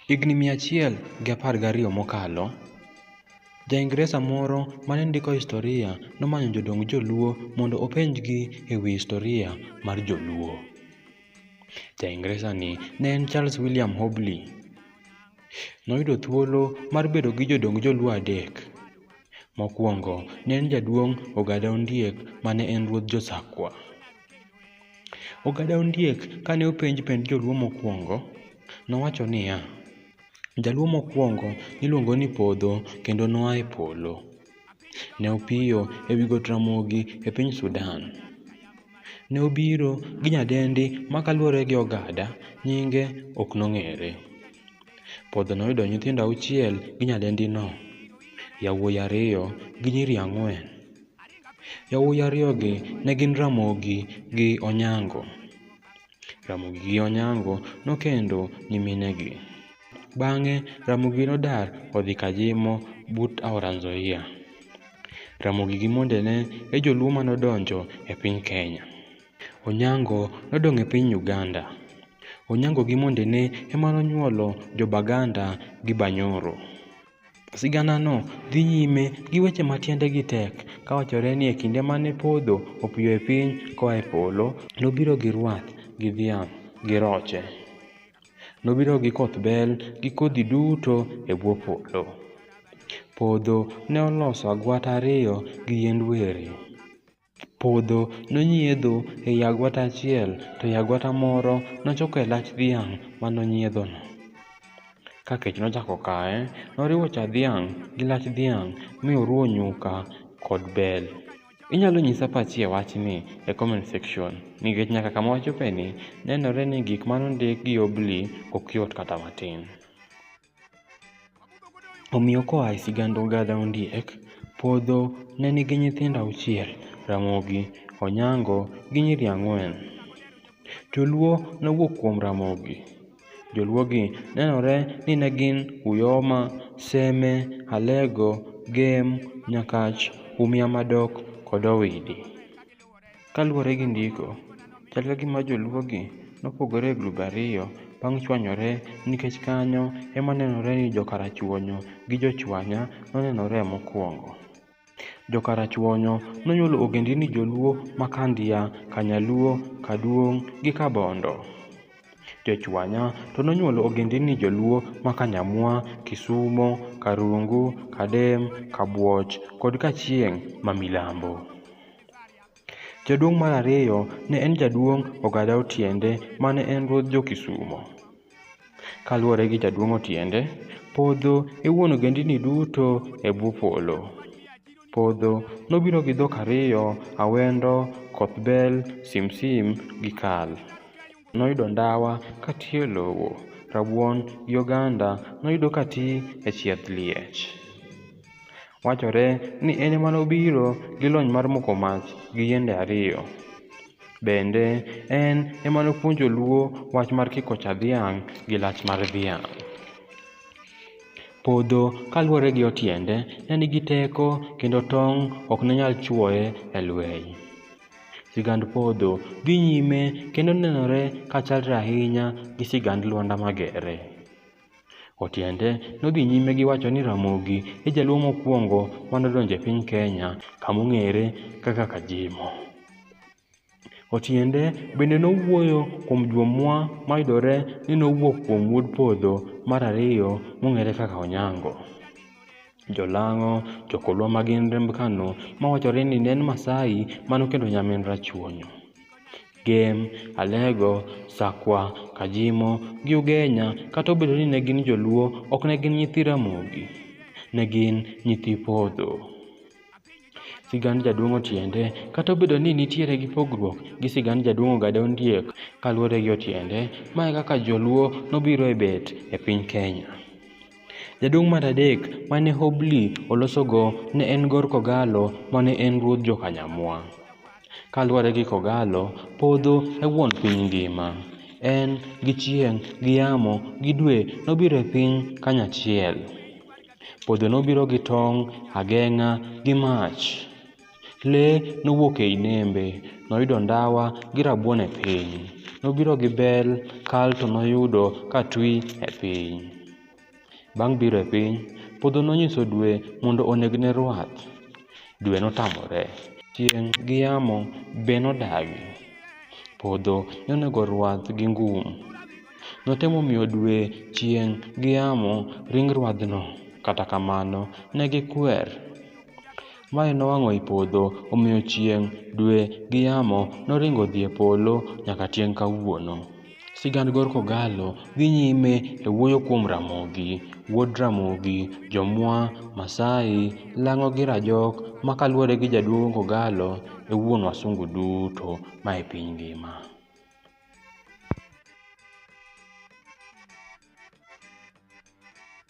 Higni mia achiel gi apar gariyo mokalo, Ja-Ingresa moro ma ne ndiko historia nomanyo jodong Joluo mondo openjgi e wi historia mar Joluo. Ja-Ingresani ne en Charles William Hobley. Noyudo thuolo mar bedo gi jodong Joluo adek. Mokwongo ne en jaduong' Ogada Ondiek ma ne en ruodh Jo-Sakwa. Ogada Ondiek kane openj pend joluo mokwongo, nowacho niya, Jaluo mokwongo niluongo ni Podho kendo noa e polo. Ne opiyo e wi got Ramogi e piny Sudan. Ne obiro gi nyadendi ma kaluwore gi ogada, nyinge ok nong'ere. Podho noyudo nyithindo auchiel gi nyadendino, yawuoyi ariyo gi nyiri ang'wen. Yawuoyi ariyogi ne gin Ramogi gi Onyango. Ramogi gi Onyango nokendo nyiminegi. Bang'e Ramogi nodar odhi Kajimo but aora Nzoia. Ramogi gi mondene e joluo ma nodonjo e piny Kenya. Onyango nodong' e piny Uganda. Onyango gi mondene ema nonyuolo jo Baganda gi Banyoro. Siganano dhi nyime gi weche ma tiendegi tek kawachore ni e kinde mane podho opiyo e piny koa e polo, nobiro gi rwath gi dhiang' gi roche. Nobiro gi koth bel gi kodhi duto e bwo polo. Podho ne oloso agwata ariyo gi yiend weri. Podho nonyiedho ei agwata achiel, to ei agwata moro nochoko e lach dhiang' ma nonyiedhono. Ka kech nochako kaye, noriwo cha dhiang' gi lach dhiang' mi oruwo nyuka kod bel. Inyalo nyisa pachi e wachni e comment section nikech nyaka kama wachopeni nenore ni gik ma nondik gi Obli ok yot kata matin. Omiyo koa e sigand Ogadha Ondiek, Podho ne nigi nyithindo auchiel, Ramogi, Onyango gi nyiri ang'wen. Joluo nowuok kuom Ramogi. Joluogi nenore ni ne gin Uyoma, Seme, Alego, Gem, Nyakach, Umia Madok kod Owidi. Kaluwore gi ndiko, chal ka gima joluogi nopogore e grube ariyo bang' chwanyore nikech kanyo ema nenore ni jo Karachuonyo gi jo Chwanya nonenore mokwongo. Jo Karachuonyo nonyuolo ogendini Joluo ma Kandia, Kanyaluo, Kaduong' gi Kabondo. Jo Chwanya to nonyuolo ogendini Joluo ma Kanyamwa, Kisumo, Karungu, Kadem, Kabuoch kod Kachieng' ma Milambo. Jaduong' mar ariyo ne en jaduong' Ogada Otiende mane en ruodh jo-Kisumo. Kaluwore gi jaduong' Otiende, podho e wuon ogendini duto e bwo polo. Podho nobiro gi dhok ariyo, Awendo, Kothbel, Simsim gi Kal. noyudo ndawa ka ti e lowo, rabuon gi oganda noyudo ka ti e chieth liech. Wachore ni en ema nobiro gi lony mar moko mach gi yiende ariyo. Bende, en ema nopuonjo Luo wach mar kiko cha dhiang' gi lach mar dhiang'. Podho kaluwore gi otiende ne nigi teko kendo tong' ok ne nyal chuoye e lweny. Sigand podho dhi nyime kendo nenore ka chalre ahinya gi sigand Lwanda Magere. Otiende nodhi nyime gi wacho ni Ramogi e jaluo mokwongo manodonjo e piny Kenya kamong'ere kaka Kajimo. Otiende bende nowuoyo kuom jomwa mayudore ni nowuok kuom wuod podho mar ariyo mong'ere kaka Onyango. Jolang'o, jokolwa ma gin remb Kano ma wachore ni ne en Maasai mane okendo nyamin Rachuonyo. Gem, Alego, Sakwa, Kajimo gi Ugenya kata obedo ni ne gin joluo ok ne gin nyithi Ramogi. Ne gin nyithi Podho. Sigand Jaduong' Otiende kata obedo ni nitiere gi pogruok gi sigand Jaduong' Ogada Ondiek kaluwore gi Otiende, ma e kaka joluo nobiro e bet e piny Kenya. Jaduong' mar adek mane Hobli olosogo ne en Gor Kogalo mane en ruodh Jokanyamwa. Kaluwore gi Kogalo, podho e wuon piny ngima. En gi chieng', gi yamo, gi dwe nobiro e piny kanyachiel. Podho nobiro gi tong', ageng'a, gi mach. Le nowuok ei nembe, noyudo ndawa gi rabuon e piny. Nobiro gi bel, kal to noyudo ka twi e piny. Bang' biro e piny, podho nonyiso dwe mondo onegne rwath. Dwe notamore. Chieng' gi yamo be nodagi. Podho ne onego rwath gi ngum. Notemo miyo dwe, chieng' gi yamo ring rwadhno, kata kamano, ne gikwer. Mae nowang'o i podho, omiyo chieng', dwe, gi yamo noringo odhi e polo nyaka tieng' kawuono. Sigand Gor Kogallo dhi nyime e wuoyo kuom Ramogi, wuod Ramogi, Jomwa, Masai, Lang'o gi Rajok ma kaluwore gi jaduong' Kogallo e wuon wasungu duto ma e piny ngima.